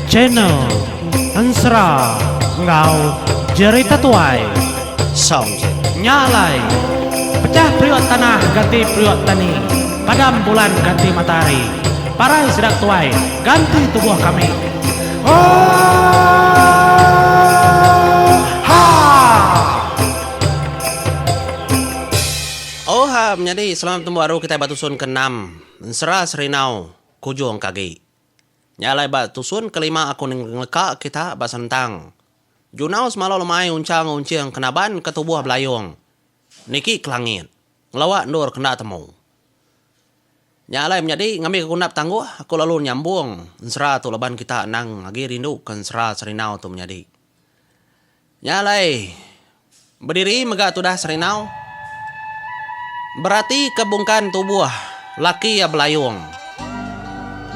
Channel Ensera enggau Jerita Tuai. Sound check. Nya alai. Pecah periuk tanah ganti periuk tani. Padam bulan ganti matahari. Parai sida tuai ganti tubuh kami. Ooh! Oha menyadi selalu betembu aru kitai ba tusun ke enam ensera Serindau Kujong ke agi. Nya alai ba tusun ke lima aku ngeleka kita ba Sentang. Junau semalu lemai unchang unching ke naban ke tubuh belayong niki ke langit ngelawa endur ke enda temu. Nya alai menyadi ngambika ku enda betangguh aku lalu nyambung ensera tu laban kita anang agi rindu ke ensera Serindau tu menyadi. Nya alai, bediri mega tudah serinau, beratika bungkan tubuh laki iya belayung.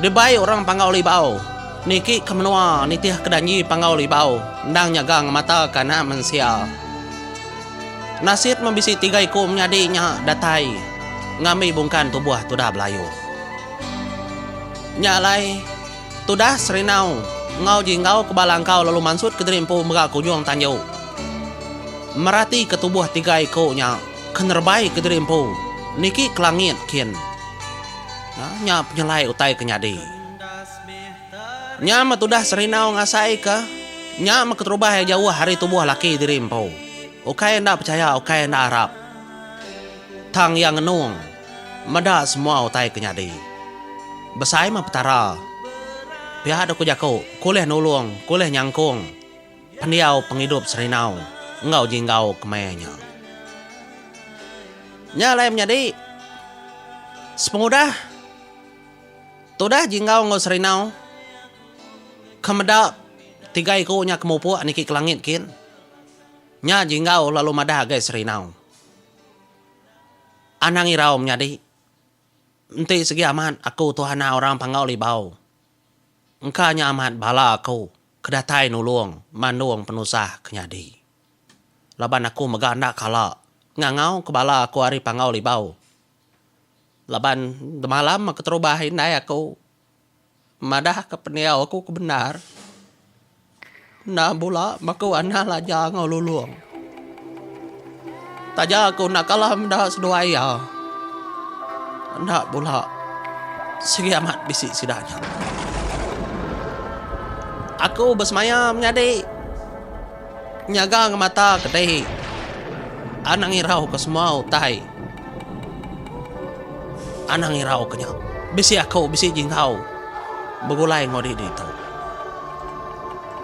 Dibai orang Panggau Libau, niki ke menua nitihka janji Panggau Libau endang nyaga ngemataka anak mensia. Nasit meh bisi tiga iku menyadi nya datai ngambi bungkan tubuh tudah belayung. Nya alai. Tudah Serinau enggau Jinggau ke bala engkau lalu mansut kediri empu mega ke ujung tanju. Merati ke tubuh tiga iku nya ke nerebai kediri empu niki ke langit kin. Nya penyelai utai ke nyadi. Nya meh tudah Serinau ngasai ke nya meh keterubah iya jauh ari tubuh laki diri empu. Ukai enda pechaya ukai enda arap. Tang iya ngenung. Meda semua utai ke nyadi. Besai meh Petara. Pia deka jaku ke ulih nulung, ke ulih nyangkung pendiau pengidup Serindau enggau Jinggau kemaya nya. Nya alai menyadi sepengudah tudah Jinggau enggau Serindau ke meda tiga iku nya ke mupuk niki ke langit kin, nya Jinggau lalu madah agai Serindau. Anang irau menyadi. Enti segi amat aku tu anak orang Panggau Libau. Engka nya amat bala aku ke datai nulung mandung penusah ke nyadi. Laban aku mega enda kala ngangau ke bala aku ari Panggau Libau. Laban demalam aku terubah indai aku madahka pendiau aku ke bendar enda bula ba ku anang laja enggau lulong. Taja ku enda kalah meda seduai iya enda bula sigi amat bisi sida nya. Aku besemaya menyadi. Nyaga ngemata ke dei. Anang irau ke semua utai. Anang irau ke nya. Bisi aku bisi jingkau. Begulai enggau diri ditu.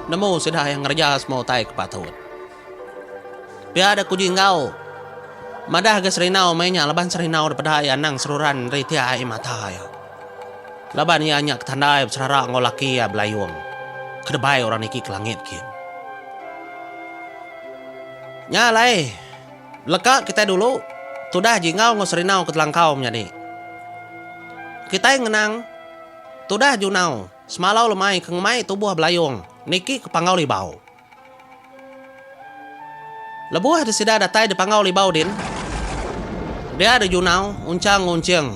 Nemu sida yang ngereja semua utai ke patut. Pia dek ku jingkau. Madah ga serinau meh nya laban serinau dipeda iya anang seruran ri tiai mata iya. Laban iya nya ketandai beserara enggau laki iya belayung ke debai orang niki ke langit kin. Nya alai, leka kitai dulu tudah Jingau enggau Serinau ke telangkau menyadi. Kitai ngenang tudah Junau semalau lemai ke ngemai tubuh belayung niki ke panggau libau. Lebuh de sida datai di Panggau Libau din, dia de Junau Unchang Ngunching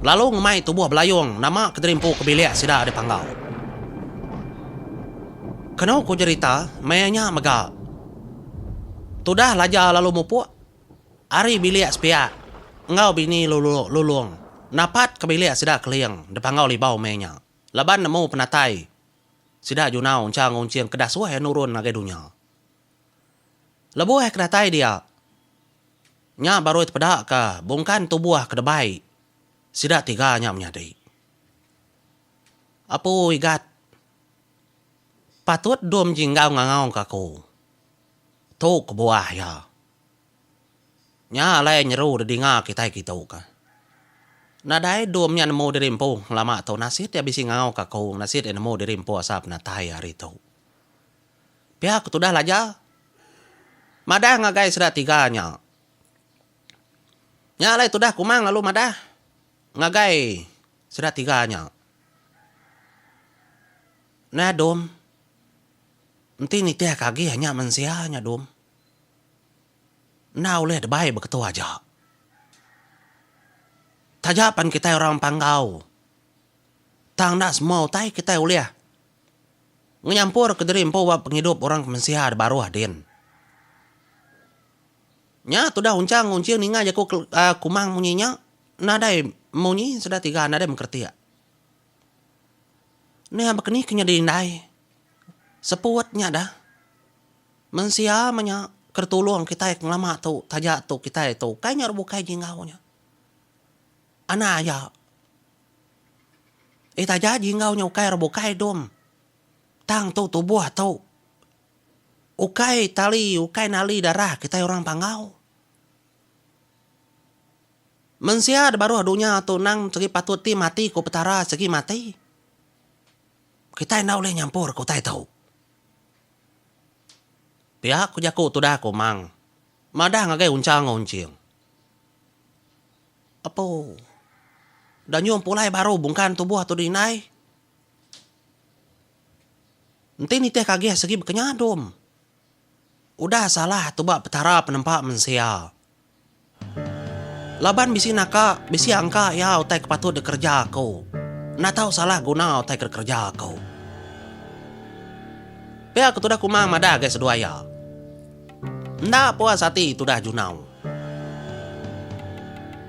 lalu ngemai tubuh Belayong nama ke dirimpu ke bilik sida di Panggau. Kenu ku jerita, maya nya mega tudah Laja lalu mupuk ari bilik sepiak enggau bini Lulong napat ke bilik sida Keling di Panggau Libau meh nya laban nemu penatai Sida Junau encha ngunching kedah suah iya nurun ngagai dunya. Lebuh iya ke datai dia, nya barui tepeda ka bungkan tubuh ke debai sida tiga nya menyadi. Apu Igat, patut dom jinggau ngangau ka aku, tu kebuah iya. Nya alai nyeru didinga kitai kitu ka. Nadai dom nya nemu diri empu ngelama tu nasit iya bisi ngau ka aku nasit iya nemu diri empu asal penatai hari tu. Pia ku tudah laja madah ngagai sida tiga nya. Nya alai tudah kumang lalu madah ngagai sida tiga nya. Nah dom enti nitih ka agi nya mensia nya dom. Enda ulih debai ba ketu aja. Taja pan kitai orang Panggau tang enda semua utai kitai ulih nyampur ke diri empu ba pengidup orang ke mensia da baruh din. Nya tudah unchang enggau unching ninga jaku Kumang munyi nya nadai munyi sida tiga nadai mengkretik. Nih bakani ke nyadi indai seput nya dah. Mensia menya ke tulung kitai ngelama tu taja tu kitai tu kai nyau bukai jinggau nya. Anak aja. Eh taja jinggau nya ukai orang bukai dom. Tang tu tubuh tu. Ukai tali ukai nali darah kitai orang panggau. Mensia da baruh dunya tu nang segi patut ti mati ku petara segi mati. Kitai enda ulih nyampur ke utai tu. Pia ku jaku tudah aku mang madah ngagai unchang enggau unching. Apu danyum pulai baru bungkan tubuh tudu indai enti nitih kagih sigi baka nyadum udah salah tuba petara penempa mensia. Laban bisi naka, bisi angka iya utai ke patut dikereja aku. Enda tau salah guna utai ke dikereja aku. Pia aku tudah kuma madah ngagai seduai iya. Enda puas ati tudah Junau.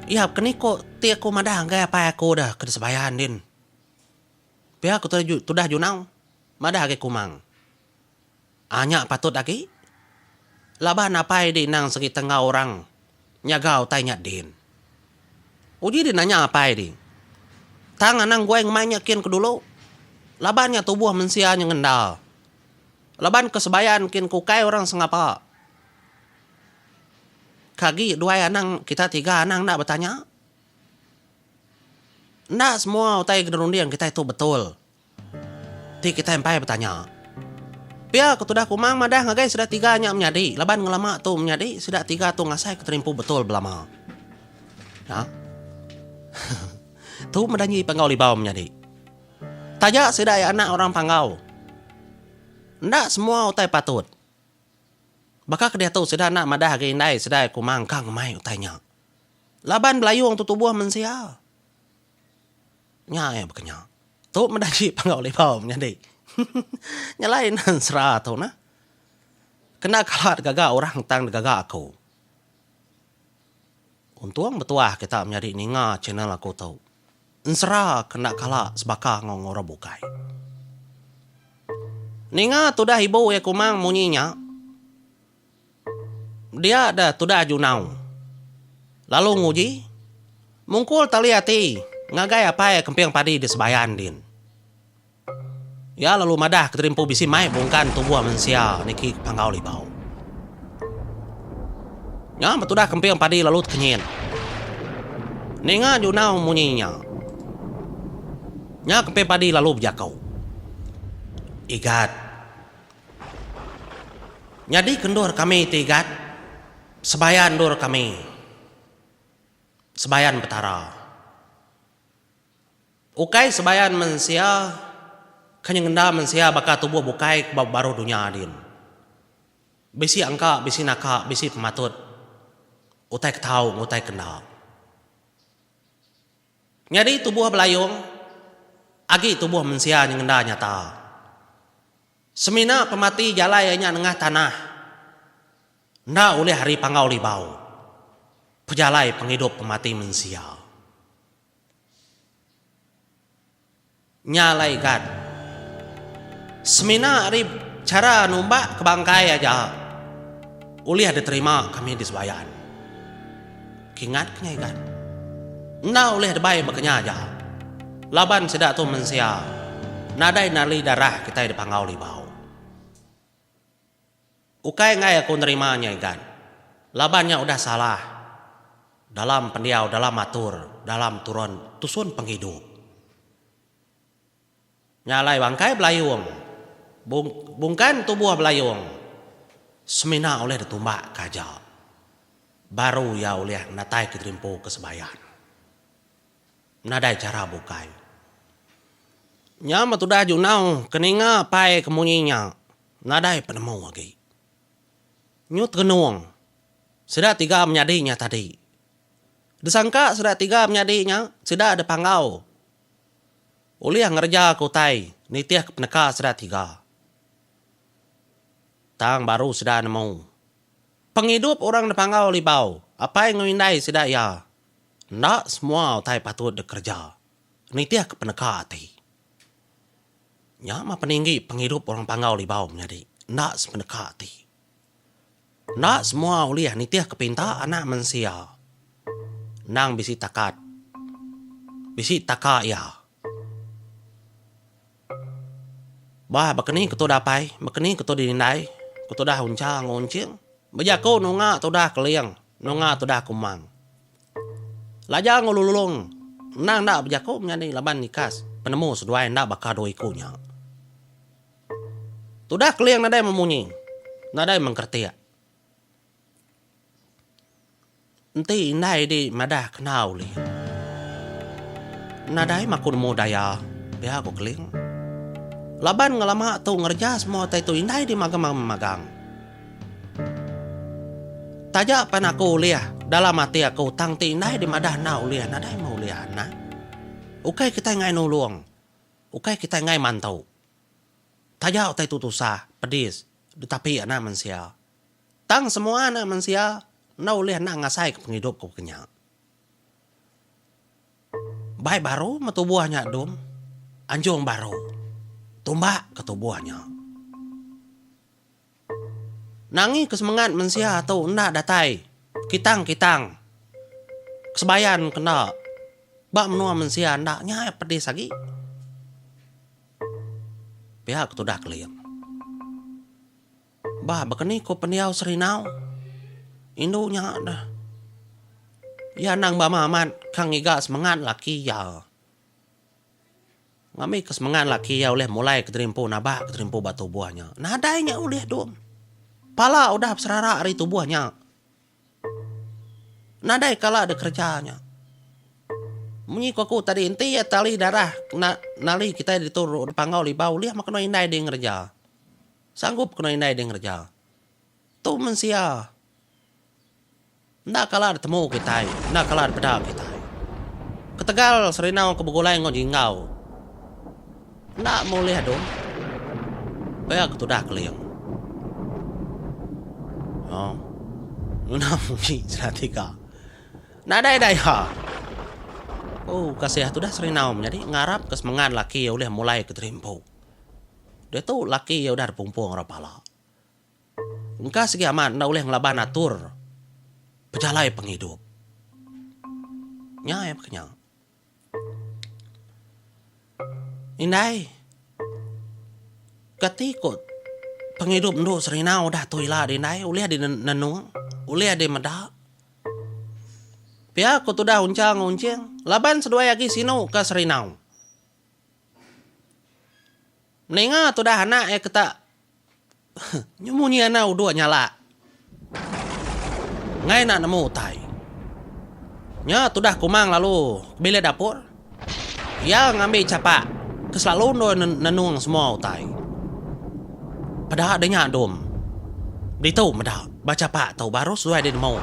Iya ke ni ko ti aku madah ngagai apai aku deh ke disebayar ndin. Pia aku tudah Junau madah ngagai Kumang. Ah nya patut agi. Laban apai di endang segi tenggau orang nyaga utai nya din. Uji di nanya apai di. Tang anang guai ngemai nya kin ke dulu. Laban nya tubuh mensia nya ngendal. Laban ke sebayan kin ke ukai orang sengapa. Ka agi duai anang kita tiga anang enda betanya. Enda semua utai ke dirunding kitai tu betul. Ti kitai empai betanya. Pia ke tudah Kumang madah ngagai sida tiga nya menyadi laban ngelama tu menyadi sida tiga tu ngasaika terimpu betul belama. Nya. Tu meda nyi Panggau Libau menyadi. Taja sida iya anak orang Panggau. Enda semua utai patut. Baka ke diatu sida enda madah agi indai sida iya Kumang ka ngemai utai nya. Laban belayung tu tubuh mensia. Nya iya baka nya. Tu meda aji Panggau Libau menyadi. Nya lain nang sera tu nah. Kena kala digaga orang tang digaga aku. Untung betuah kita menyadi ninga channel aku tu. Ensera ke enda kala sebaka enggau orang bukai. Ninga tudah ibu iya kumang munyi nya. Dia da tudah junau. Lalu nguji. Mungkul tali ati ngagai apai kemping padi di Sebayan din. Iya lalu madah ke terimpu bisi mai bungkan tubuh mensia niki ke Panggau Libau. Nya betudah kemping padi lalu tekenyit. Ninga junau munyi nya. Nya kemping padi lalu bejako. Igat. Nyadi ke endur kami ti igat, sebaya endur kami sebayan Petara. Ukai sebayan mensia ke nyengenda mensia baka tubuh bukai ke ba baruh dunya din. Bisi angka, bisi naka, bisi pematut, utai ke tau enggau utai ke enda. Nyadi tubuh belayong agi tubuh mensia nyengenda nyata. Semina pemati jalai iya nya nengah tanah enda ulih ari panggau libau pejalai pengidup pemati mensia. Nya alai kan. Semina ari chara numbak ke bangkai aja ulih diterima kami di Sebayan. Kingat kinyai kan. Enda ulih debai baka nya aja laban sida tu mensia nadai nali darah kitai dipanggau libau. Ukai enggai aku nerima nya Igan. Laban nya udah salah dalam pendiau dalam atur dalam turun tusun pengidup. Nya alai bangkai belayung bung bungkan tubuh belayung semina ulih ditumbak ke aja baru iya ulih nataika dirimpu ke sebayan. Nadai chara bukai. Nya meh tudah junau ke ninga pai ke munyi nya Nadai penemu agi. Nyu terenung sida tiga menyadi nya tadi. Disangka sida tiga menyadi nya sida dipanggau ulih ngereja ke utai nitihka peneka sida tiga. Tang baru sida nemu, pengidup orang dipanggau libau apai enggau indai sida iya enda semua utai patut dikereja nitihka peneka ati. Nya mah peninggi pengidup orang Panggau Libau menyadi. Enda sepeneka ati. Enda semua ulih nitihka pinta anak mensia endang bisi takat, bisi taka iya. Bah baka ni ketu dapai, baka ni ketu dinindai, ku tudah Uncha enggau Unching, bejaku nunga tudah Keling, nunga tudah Kumang. Lajang ulu Lulong endang enda bejako menyadi laban ikas penemu seduai enda baka dua iku nya. Tudah Keling nadai memunyi, nadai mengkeretik. Enti indai di madah kena ulih. Nadai maku nemu daya, pia ku Keling. Laban ngelama tu ngereja semua utai tu indai di magam-magam. Taja pen aku ulih, dalam ati aku tang ti indai dimadah enda ulih, nadai meh ulih anak. Ukai kitai enggai nulung, ukai kitai enggai mantu. Taja utai tu tusah, pedis ditapi anak mensia. Tang semua anak mensia enda ulih enda ngasaika pengidup ke baka nya. Bai baru meh tubuh nya dum, anjung baru tumbak ke tubuh nya. Nangi ke semengat mensia tu enda datai kitang-kitang kesebayan kena ba menua mensia enda nya iya pedis agi. Pia ke tudah Keling. Bah baka ni ku pendiau Serinau, indu nya deh iya anang bama amat ka ngiga semengat laki iya. Ngambika ke semengat laki iya ulih mulai ke diri empu nabak ke diri empu ba tubuh nya. Nadai nya ulih dom. Pala udah beserara ari tubuh nya. Nadai kala dek kereja nya. Munyi ku aku tadi enti iya tali darah kena nali kitai ditu Panggau Liba ulih meh kenu indai ding ngereja. Sanggup kenu indai ding ngereja. Tu mensia. Enda kala ditemu kitai, enda kala dipeda kitai. Ketegal serindau ke begulai enggau jinggau enda moleh adu, pia ke tudah keling. Aw, ngena munyi sida tiga. Nadai daya. Ooh, kasih tudah serindau menyadi ngarapka semengat laki iya ulih mulaika terimpu. Ditu laki iya udah dipumpung rak pala. Engka sigi amat enda ulih ngelaban atur pejalai pengidup. Nya iya pekenya. Indai kati ko pengidup endu Serina udah tu ila dih indai ulih dih nenung ulih dih meda pia ko tudah Unchang Unching laban seduai agi sinu ka Serina. Meninga tudah anak iya ke tak nyu munyi anak uduk nyala enggai nak nemu utai. Nya tudah Kumang lalu ke bilik dapur. Iya ngambi chapak ke selalu endur nenung semua utai. Peda deh nya dum. Ditu meda ba chapak tu baru seduai deh nemu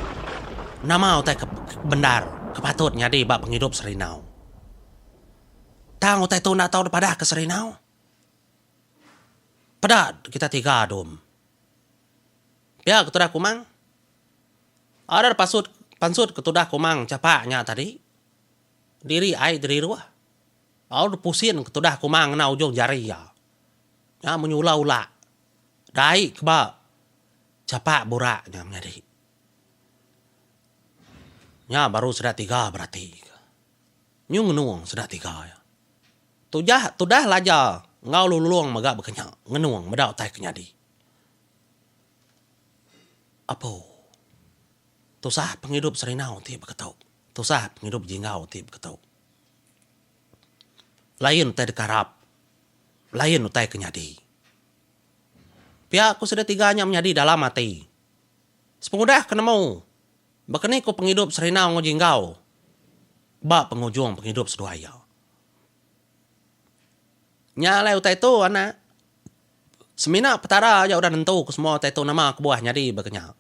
nama utai ke bendar ke patut nyadi ba pengidup Serindau. Tang utai tu enda tau dipadah ke serinau. Peda kita tiga dom. Pia ketudah kumang. Ada da pasut pansut ketudah kumang chapa nya tadi. Diri ai diriruh. Lalu dipusin ketudah kumang ngena ujung jari iya. Nya munyi ula ula. Dai ke ba chapa burak nya menyadi. Nya baru sida tiga berati. Nyu ngenung sida tiga iya. Tujah tudah laja enggau lululung mega bekenya ngenung meda utai ke nyadi. Apo. Tusah pengidup serindau ti beketu. Tusah pengidup jinggau ti beketu. Lain utai deka rap. Lain utai ke nyadi. Pia ku sida tiga nya menyadi dalam ati. Sepengudah ke nemu. Baka ni ku pengidup Serina nguji enggau ba pengujung pengidup seduai iya. Nya alai utai tu, anak. Semina Petara aja udah nentu ke semua utai tu nama kebuah nyadi baka nya.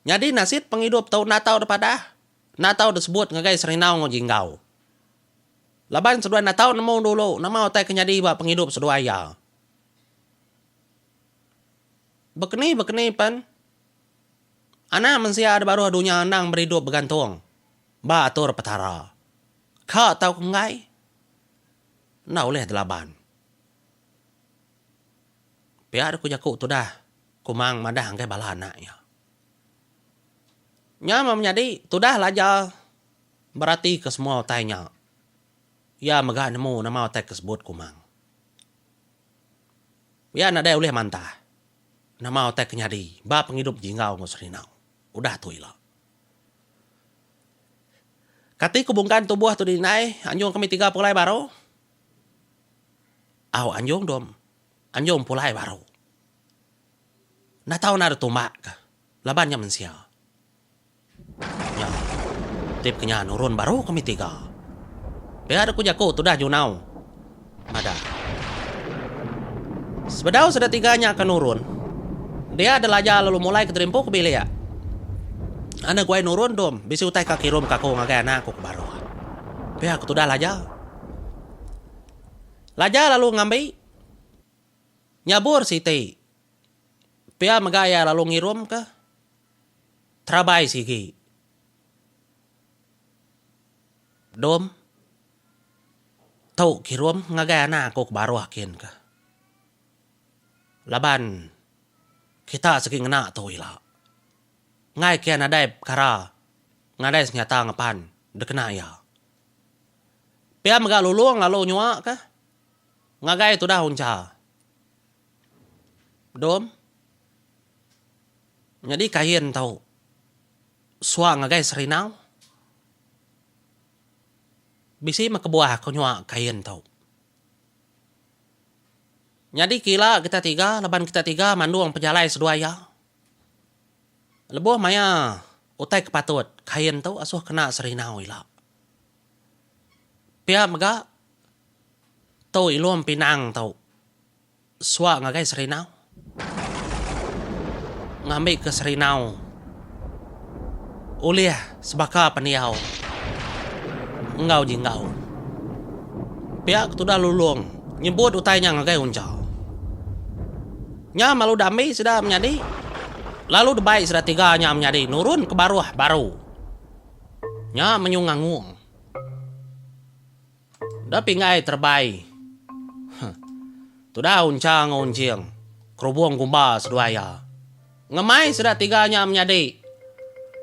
Nyadi nasit pengidup tu enda tau dipadah, enda tau disebut ngagai Serina nguji enggau. Laban seduai enda tau nemu dulu nama utai ke nyadi ba pengidup seduai iya. Baka ni baka ni pen, Anak mensia di baruh dunya endang beridup begantung ba atur Petara. Ka tau ke enggai, enda ulih delaban. Pia ku jaku tudah Kumang madah enggai bala anak iya. Nya meh menyadi tudah laja beratika semua utai nya, iya mega nemu nama utai ke sebut Kumang. Iya nadai ulih mantah. Nama utai ke nyadi ba pengidup Jinggau enggau Serinau udah tu ila? Kati ke bungkan tubuh tu diindai anjung kami tiga pulai baru? Au anjung dua anjung pulai baru. Enda tau enda ada tumbak ke laban nya mensia. Nya. Tip ke nya nurun baru kami tiga. Pia dek ku jaku tudah nyunau. Madah. Sebedau sida tiga nya ke nurun, dia Delaja lalu mulai ke terimpu ke bilik. Ana guai nurun dom, bisi utai ka kirum ka aku ngagai anak aku ke baruh. Pia ku tudah Laja. Laja lalu ngambi nyabur siti. Pia mega iya lalu ngirum ke terabai sigi dom tau kirum ngagai anak aku ke baruh kin ka laban kita sigi ngena tu ila ngai kia nadai pekara nadai senyata ngepan dikena ia. Pia mega Lulong lalu nyua ka ngagai tudah uncha. Dom. Nyadi kain tau suang ngagai serinau. Bisi meh kebuah ke nyua kain tau. Nyadi ke ila kita tiga laban kita tiga mandung pejalai seduai iya. Lebuh maya utai ke patut kain tau asuh kena serinau ila. Pia mega, tu ilung pinang tu suwa ngagai serinau, ngambika serinau ulih sebaka pendiau enggau jinggau. Pia ke tudah lulung nyebut utai nya ngagai uncha. Nya lalu dami sida menyadi, lalu debai sida tiga nya menyadi nurun ke baruh baru. Nya menyung ngangung. Da pinggai terebai. Huh. Tudah uncha enggau unjing. Kerubung gumba seduai iya. Ngemai sida tiga nya menyadi.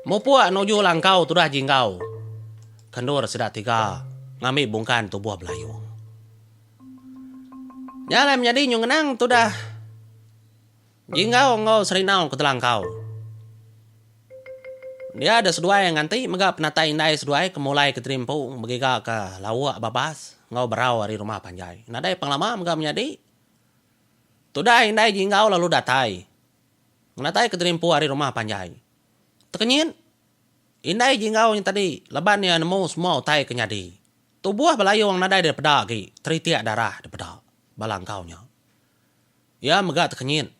Mupuk nuju langkau tudah jinggau. Kendur sida tiga ngambi bungkan tubuh belayung. Nya alai menyadi nyung ngenang tudah. Jinggau enggau serinau ke telangkau. Dia deh seduai nganti mega penatai indai seduai ke mulai ke terimpu begiga ke lauk babas enggau berau ari rumah panjai. Nadai pengelama mega menyadi. Tudah indai Jinggau lalu datai ngenatai ke terimpu ari rumah panjai. Tekenyit indai Jinggau nya tadi leban iya nemu semua utai ke nyadi. Tubuh belayung nadai dipeda agi, teritik darah dipeda bala engkau nya. Iya mega tekenyit.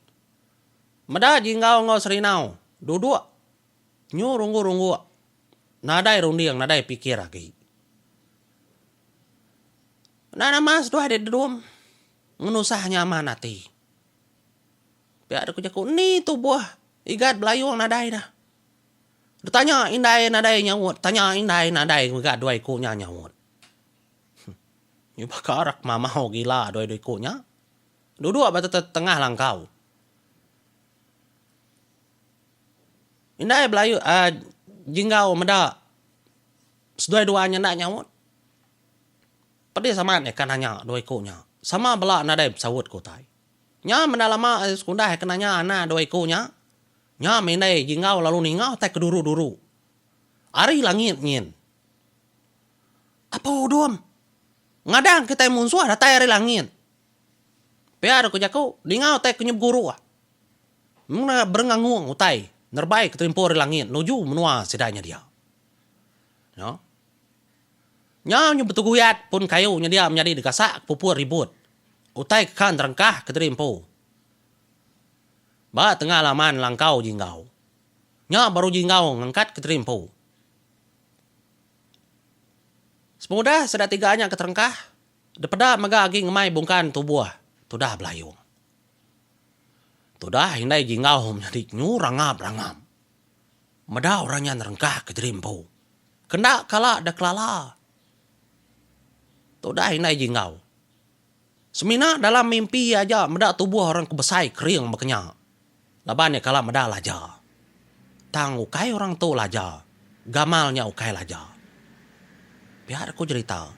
Meda Jinggau enggau Serinau duduk nyu rungguk-rungguk nadai runding nadai pikir agi. Enda nama seduai dek Dedum ngenusah nyaman ati. Pia dek ku jaku ni tubuh Igat Belayong nadai dah. Ditanya indai nadai nyaut, tanya indai nadai mega duai ku nya nyaut. Huh. Nyu baka rak mamau gila duai-duai ku nya. Duduk ba tetetengah langkau. Indai belaie jinggau meda seduai dua nya enda nyaut. Pedis amat deh ka nanya dua iku nya. Sama bela nadai besaut ku utai. Nya menda lama sekunda ke nanya anak dua iku nya. Nya meh indai jinggau lalu ninga utai ke duru-duru. Ari langit nyin. Apo udom. Ngadang kitai munsuh datai ari langit. Pia deka jaku dinga utai ke nyebut guru. Mengena berengangung utai nerebai ke terimpu ari langit nuju menua sida nya dia. Nya. Nya nyau betuguyat pun kayu nya dia menyadi digasak puput ribut utai ke kan terengkah ke terimpu ba tengah laman langkau jinggau. Nya baru jinggau ngangkat ke terimpu. Sepengudah sida tiga nya ke terengkah, dipeda mega agi ngemai bungkan tubuh Tudah Belayong. Tudah indai Jinggau menyadi nyu rangap-rangap. Meda orang nya nerengkah ke nyadi empu, ke enda kala dekelala. Tudah indai Jinggau. Semina dalam mimpi iya aja meda tubuh orang ke besai kering baka nya. Laban iya kala meda laja. Tang ukai orang tu laja, gamal nya ukai laja. Pia aku jerita.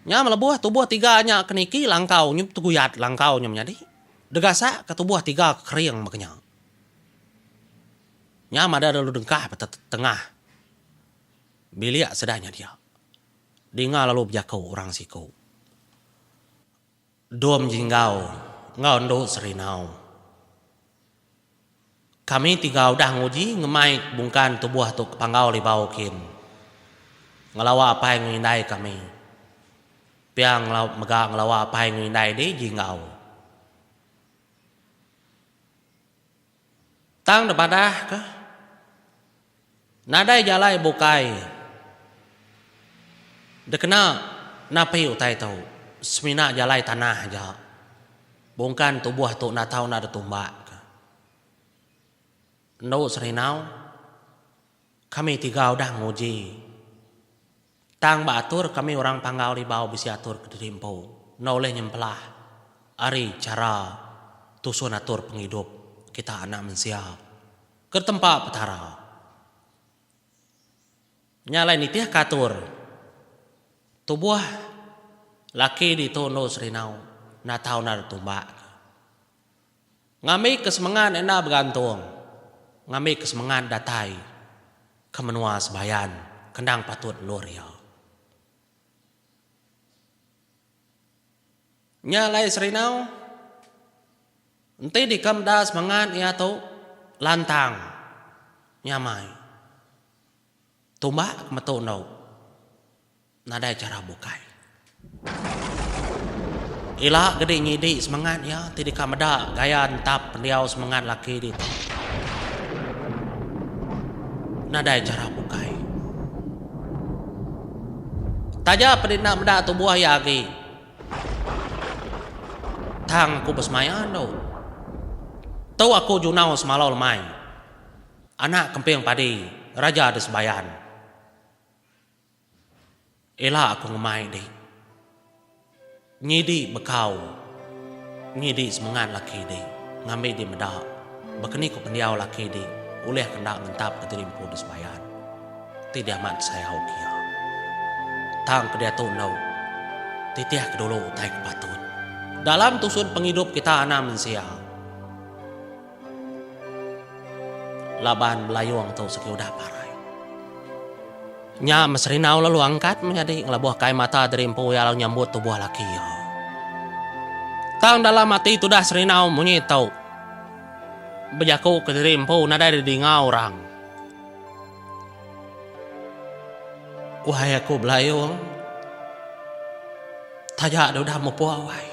Nya melebuh tubuh tiga nya ke niki langkau nyu teguyat langkau nya menyadi. Degasak ke tubuh tiga ke kering baka nya. Nya madah lalu dengkah ba te tengah bilik sida nya dia. Dinga lalu bejaku orang siku. Dom Jinggau enggau endu Serinau. Kami tiga udah nguji ngemai bungkan tubuh tu ke panggau libau kin. Ngelawa apai enggau indai kami. Pia mega ngelawa apai enggau indai di Jinggau. Tang nebadah ka nadai jalai bukai dekena napi utai tu semina jalai tanah aja bungkan tubuh tu enda tau enda detumbak ka. Endo Serindau kami tiga udah nguji. Tang ba atur kami orang Panggau Libau bisi atur kediri empu enda ulih nyempelah ari chara tusun atur pengidup kita anak mensia ke ditempa Petara. Nya alai nitihka atur tubuh laki ditu endur serinau natau nada tumbak ke. Ngambi ke semengat enda begantung ngambi ke semengat datai ke menua Sebayan ke endang patut endur iya. Nya alai Serinau enti dika meda semengat iya tu lantang nyamai. Tumbak ke metu endo nadai chara bukai. Ila gedi ngidi semengat iya ti deka meda gaya entap pendiau semengat laki ditu nadai chara bukai. Taja pun enda meda tubuh iya agi tang aku besemaya endo. Tu aku junau semalau lemai. Anak kemping padi raja di Sebayan. Ela aku ngemai di. Nyidi bekau nyidi semengat laki di ngambi di meda baka ni ku pendiau laki di ulih ke enda ngentap ke diri empu di Sebayan ti diamat kesayau ke iya. Tang ke diatu endo titih ke dulu utai ke patut. Dalam tusun pengidup kita anak mensia. Laban belayong tu sigi udah parai. Nya meh Serinau lalu angkat menyadi ngelabuh kai mata diri empu iya lalu nyambut tubuh laki iya. Tang dalam ati tudah Serinau munyi tu bejaku ke diri empu nadai di dinga orang. Wai aku belayong taja deh udah mupung wai.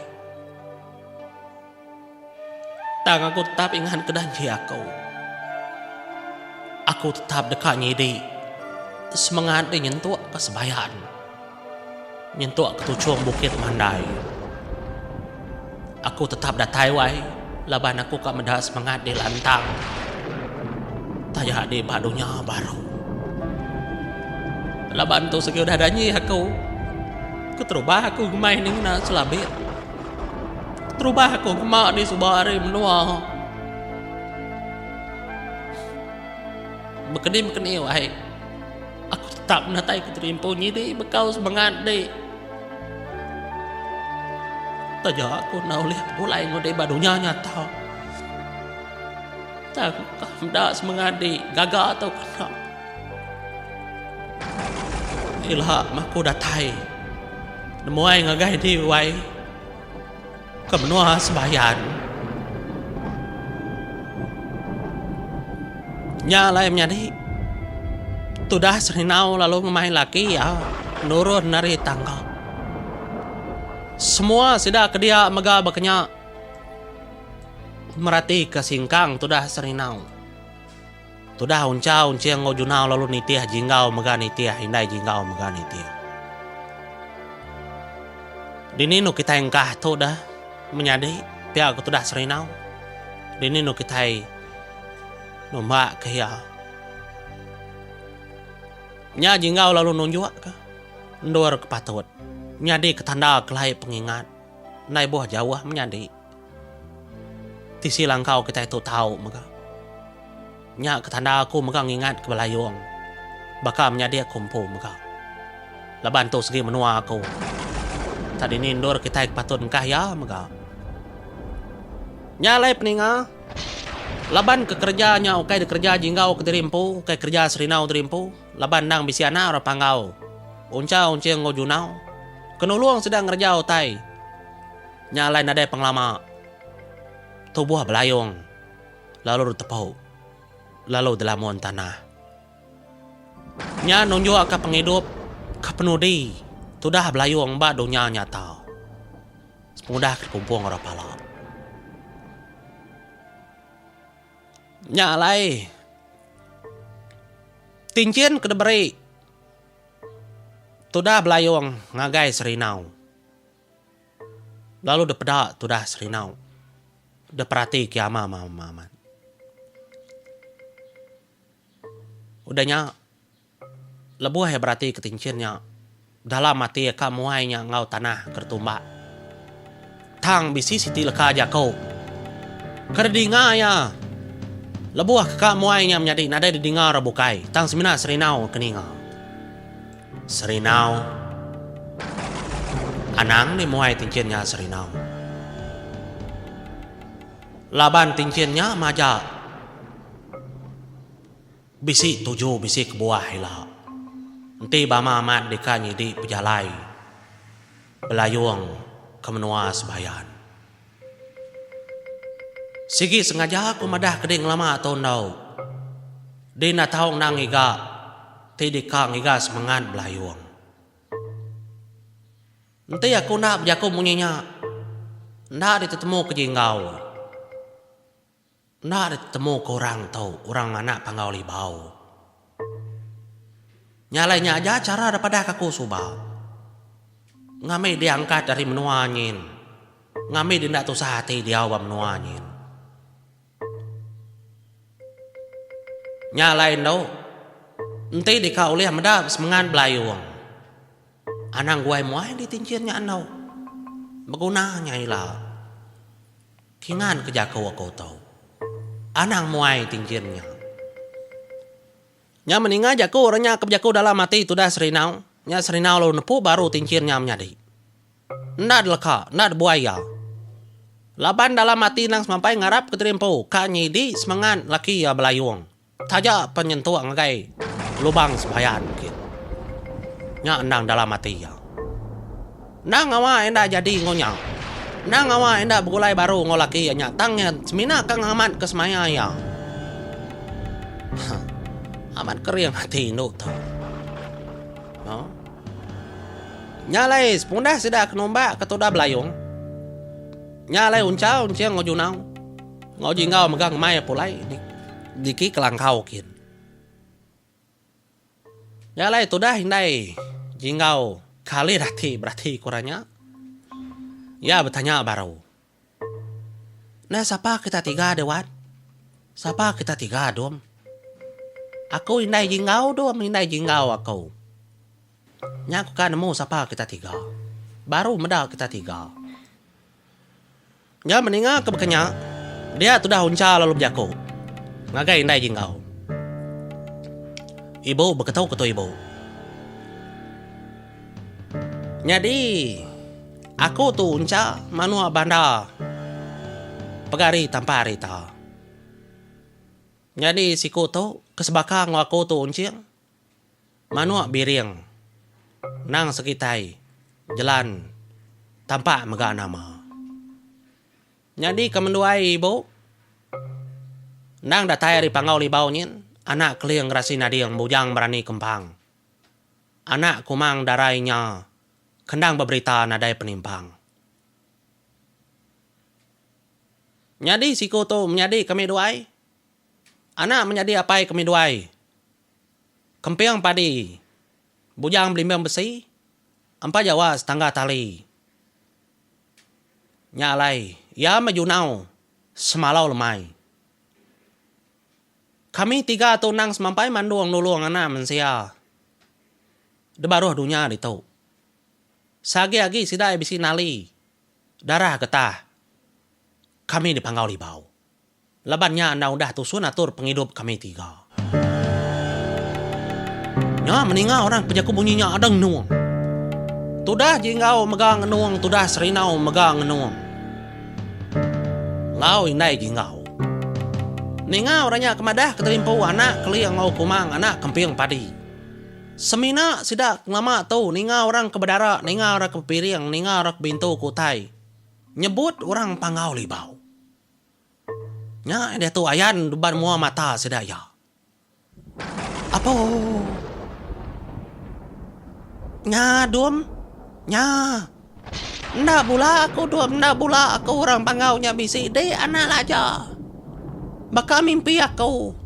Tang aku tetap ingat ke janji aku. Aku tetap deka nyidi semengat deh nyentuk ke sebayan, nyentuk ke tuchung bukit mandai. Aku tetap datai wai laban aku ka meda semengat deh lantang taja deh ba dunya baru. Laban tu sigi udah janji aku, keterubah aku meh ninga selabit. Terubah aku kema di suba ari menua. Bekeni bekeni wahai. Aku tetap natai ku terimpu nyidi bekau semengat di. Taja aku na ulih pulai ngudi ba dunya nyata. Tang ka meda semengat di gaga tau kena. Ilha maku datai nemuai ngagai enti wai ke menua sembayan. Nya alai menyadi tudah serinau lalu ngemai laki iya nurun ari tangga. Semua sida ke dia mega bakanya meratika singkang tudah serinau. Tudah unchau enching enggau junau lalu nitih jinggau mega nitih indai jinggau mega nitih. Dini enu kitai engkah tu dah menyadi pia ke tudah serinau? Dini enu kitai numbak ke iya? Nya jinggau lalu nunjuk ke endur ke patut. Menyadi ke tanda kelai pengingat. Endai boh jauh menyadi. Tisi langkau kitai tu tau mega. Nya ke tanda aku mega ngingat ke Belayong baka menyadi aku empu mega. Laban tu segi menua aku. Tang dini endur kitai ke patut engkah iya mega. Nya alai peninga. Laban ke kereja nya ukai dikereja jinggau ke diri empu, ukai kereja serindau diri empu laban endang bisi anak orang panggau. Uncha unching enggau junau ke nulung sida ngereja utai. Nya alai nadai pengelama tubuh belayung lalu ditepu lalu dilamun tanah. Nya nunjukka pengidup ke penudi tudah belayung ba dunya nyata pengudah ke dikumpung orang pala. Nya alai tinchin ke diberi tudah belayung ngagai serinau. Lalu dep peda tudah Serinau. Dep perati ke ama ama ama amat. Udah nya lebuh iya berati ke tinchin nya dalam ati iya ka muai nya enggau tanah ke retumba. Tang bisi siti leka jaku ke didinga iya lebuh ka muai nya menyadi nadai didinga orang bukai tang semina Serinau ke ninga. Serinau Anang ni muai tinchin nya serinau Laban tinchin nya maja Bisi tuju bisi kebuah ila Enti bama amat deka nyidi pejalai Belayung ke menua Sebayan. Sigi sengaja aku madah ke dei ngelama tu enggau dei enda tau endang ngiga ti deka ngiga semengat belayung. Enti aku enda bejaku munyi nya, enda ditemu ke ji enggau. Enda ditemuka orang tu orang nganak Panggau Libau. Nya alai nya aja chara da padahka aku suba. Ngambi diangkat ari menua nyin. Ngambi di enda tusah ati diau ba menua nyin. Nya alai endo, enti deka ulih meda semengan belayung, anang guai muai di tinchin nya endo. Beguna nya ila. Kingan ke jaku aku tu. Anang muai ti engin nya. Nya meninga jaku orang nya ke bejaku dalam ati tudah serinau, nya serinau lalu nepu baru ti engin nya menyadi. Enda deleka, enda debuai iya. Laban dalam ati endang semampai ngarap ke diri empu ka nyidi semangat laki iya belayung. Taja pen nyentuk ngagai lubang sebayan bukit. Nya endang dalam ati iya. Endang ngawa enda jadi enggau nya. Endang ngawa enda begulai baru enggau laki iya nya tang iya semina ka ngamatka semaya iya. Huh. Amat kering ati indu tu. Huh. Nya alai sepundah sida ke numbak ke tudah belayung. Nya alai Unchal enching enggau Junau. Enggau ji enggau mega ngemai pulai niki kelangkau kin. Nya alai tudah indai ji enggau kalih dati berati ku ranya. Iya betanya baru. Nah sapa kita tiga deh wan? Sapa kita tiga dum? Aku indai ji enggau dum indai ji enggau aku. Nya ku ka nemu sapa kita tiga. Baru meda kita tiga. Nya meninga ke baka nya, dia tudah uncha lalu bejaku, Ngagai indai agi enggau. Ibu beketu ke tu ibu. Nyadi aku tu uncha manua banda pega hari tampa hari ta. Nyadi siku tu ke sebaka enggau aku tu unching. Manuk biring nang sekitai jelan tampa mega nama. Nyadi kemenduai ibu endang datai ari Panggau Libau nyin anak Keling Gerasi Nading Bujang Berani Kempang. Anak Kumang Darai nya ke endang beberita nadai penimpang. Nyadi siku tu menyadi kami duai. Anak menyadi apai kami duai, kemping padi, bujang belimbing besi, empa jawa setangga tali. Nya alai iya meh junau semalau lemai. Kami tiga tu endang semampai mandung nulung anak mensia da baruh dunya ditu. Seagi-agi sida iya bisi nali darah getah kami dipanggau Libau. Laban nya endang udah tusun atur pengidup kami tiga. Nya meninga orang ke jaku munyi nya ada ngenung. Tudah Jinggau mega ngenung tudah Serinau mega ngenung enggau indai Jinggau. Ninga orang nya ke madah ke terimpu anak keling enggau kumang anak kemping padi. Semina sida ke ngelama tu ninga orang ke bedara ninga orang ke bepiring ninga orang ke bintu ke utai nyebut orang Panggau Libau. Nya diatu ayan nuban mua mata sida iya. Apo. Nya dum. Nya. Enda bula aku dum, enda bula aku orang panggau nya bisi dik anak laja. Baka mimpi aku.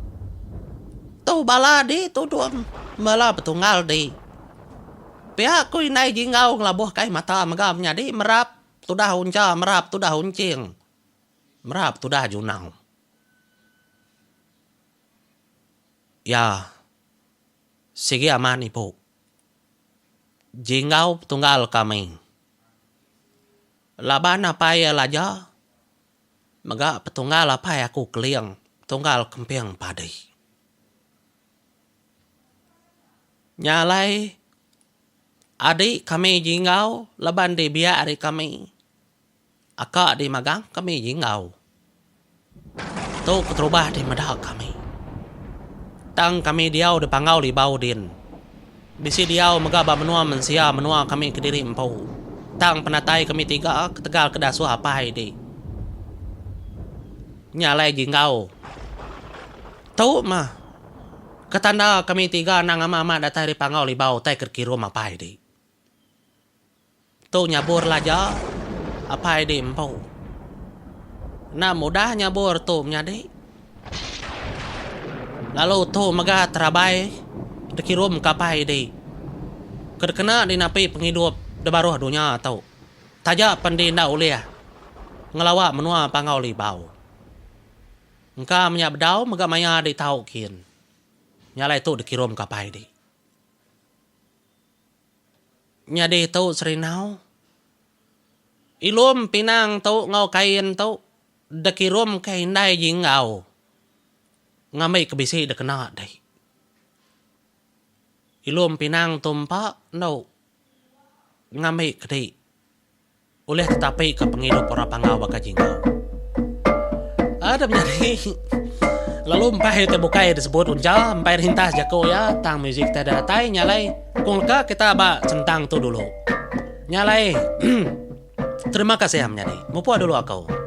Tu bala dik tu dum, bala betunggal dik. Pia aku indai jinggau ngelabuh kai mata mega menyadi merap. Tudah uncha merap tudah unching merap tudah junau. Iya sigi amat ibu jinggau petunggal kami laban apai iya laja mega petunggal apai aku keling petunggal kemping padi. Nya alai Adi kami jinggau laban di biak ari kami aka di magang kami jinggau tu keterubah di meda kami tang kami diau di panggau libau din bisi diau mega ba menua mensia menua kami kediri empu tang penatai kami tiga ketegal ke dasuh apai di nya alai jinggau tu mah. Ke tanda kami tiga anang ama amat datai ari Pangau Libau utai ke dikirum apai di. Tu nyabur laja apai di empu. Enda mudah nyabur tu menyadi. Lalu tu mega terabai dikirum ke apai di ke dikena di napi pengidup di baruh dunya tu. Taja pen di enda ulih ngelawa menua Pangau Libau. Engka menya bedau mega maya dek tau kin. Nya alai tu dikirum ke apai dek. Nyadi tu serinau. Ilum pinang tu enggau kain tu dikirum ke indai ji enggau ngambi ke bisi dikena dek. Ilum pinang tu empa endo ngambi ke dek. Ulih tetapi ka pengidup orang Panggau baka Jingau. Ada menyadi lalu empai hari ti bukai disebut unjal empai rintas jaku iya tang muzik ti ada datai nya alai kong leka kita aba sentang tu dulu nya alai terima kasih menyadi mupuk dulu aku.